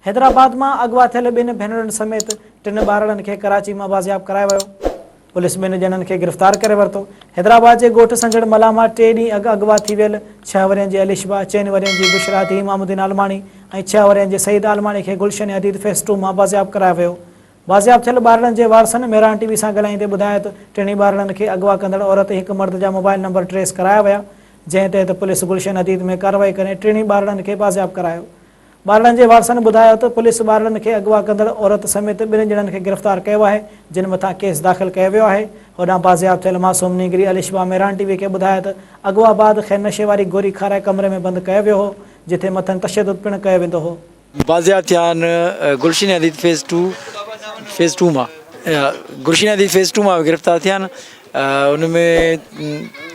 حيدرآباد مان اغوا ٿيل ٻن ڀينرن سميت ٽن ٻارڙن کي ڪراچي مان بازياب ڪرايو ويو، پوليس ٻن ڄڻن کي گرفتار ڪري ورتو، حيدرآباد جي ڳوٺ سنجهڙ ملاح مان ٽي ڏينهن اڳ اغوا ٿي ويل ڇهه ورهين جي الشبا، چئن ورهين جي بشريٰ ڌيء امام الدين عالماڻي ۽ ڇهه ورهين جي سعيد عالماڻي کي گلشن حديد فيس ٽو مان بازياب ڪرايو ويو، بازياب ٿيل ٻارڙن جي وارثن مهراڻ ٽي وي سان ڳالهائيندي ٻڌايو ته ٽنهي ٻارڙن کي اغوا ڪندڙ عورت ۽ هڪ مرد جا موبائل نمبر ٽريس ڪرايا ويا، جنهن تحت پوليس گلشن حديد ۾ ڪارروائي ڪري ٽنهي ٻارڙن کي بازياب ڪرايو، ٻارڙن جي وارثن ٻڌايو ته پوليس ٻارڙن کي اغوا ڪندڙ عورت سميت ٻن ڄڻن کي گرفتار ڪيو آهي، جن مٿان ڪيس داخل ڪيو ويو آهي. هوڏانهن بازياب ٿيل معصوم نينگري الشبا ميران ٽي وي کي ٻڌايو ته اغوا بعد کين نشي واري گوري کارائي ڪمري ۾ بند ڪيو ويو هو، جتي مٿن تشدد پڻ ڪيو ويندو هو. بازياب ٿيا آهن Gulshan Hadeed phase two phase two مان گلشين حديد فيز ٽو مان گرفتار ٿيا آهن، ان ۾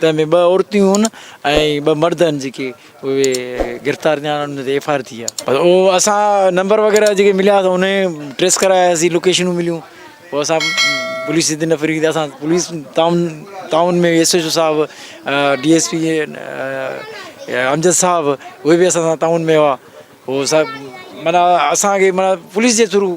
تنهن ۾ ٻه عورتون هيون ۽ ٻه مرد هن جيڪي اهي گرفتار ٿيا آهن انهن تي ايف آء آر ٿي آهي. اهو اسان نمبر وغيره جيڪي مليا سو انهي ٽريس ڪراياسين لوڪيشنون مليون پوء اسان پوليس جي تن فريق تي اسان پوليس تعاون تعاون ۾ ايس ايچ او صاحب ڊي ايس پي امجد صاحب اهي به اسان سان تعاون ۾ هئا هو سڀ معنيٰ اسانکي معنيٰ پوليس جي ٿرو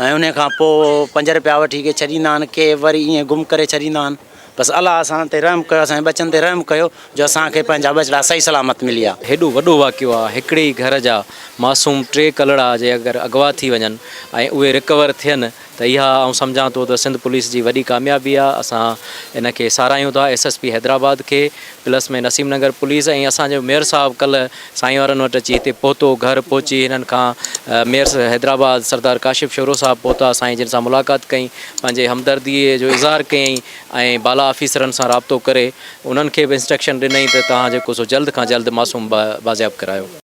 ۽ انهيء کان پوء پنج رپيا وٺي ڪي ڇڏيندا آهن ڪي وري ايئن گم ڪري ڇڏيندا آهن بس الله اسان تي رحم ڪيو اسان جي ٻچن تي رحم ڪيو جو اسان کي پنهنجا ٻچڙا صحيح سلامت مليا. هيڏو وڏو واقعو آ هڪڙي ئي گهر جا معصوم ٽي ڪلڙا جي اگر اغوا ٿي وڃن ۽ اهي رڪور ٿين ته اها آئون سمجهان ٿو ته سنڌ پوليس جي وڏي ڪاميابي آ اسان ان کي ساراهيون ٿا ايس ايس پي حيدرآباد کي پلس ۾ نسيم نگر پوليس ۽ اسان جو ميئر صاحب ڪلهه سائين وارن وٽ اچي هتي پهتو گهر پهچي هنن کان ميئر حيدرآباد سردار ڪاشف شورو صاحب پهتا سائين جن سان ملاقات ڪئي پنهنجي همدردي جو اظهار ڪيائين ۽ بالا آفيسرن سان رابطو ڪري انهن کي به انسٽرڪشن ڏنائين ته توهان جيڪو سو جلد کان جلد معصوم بازياب ڪرايو.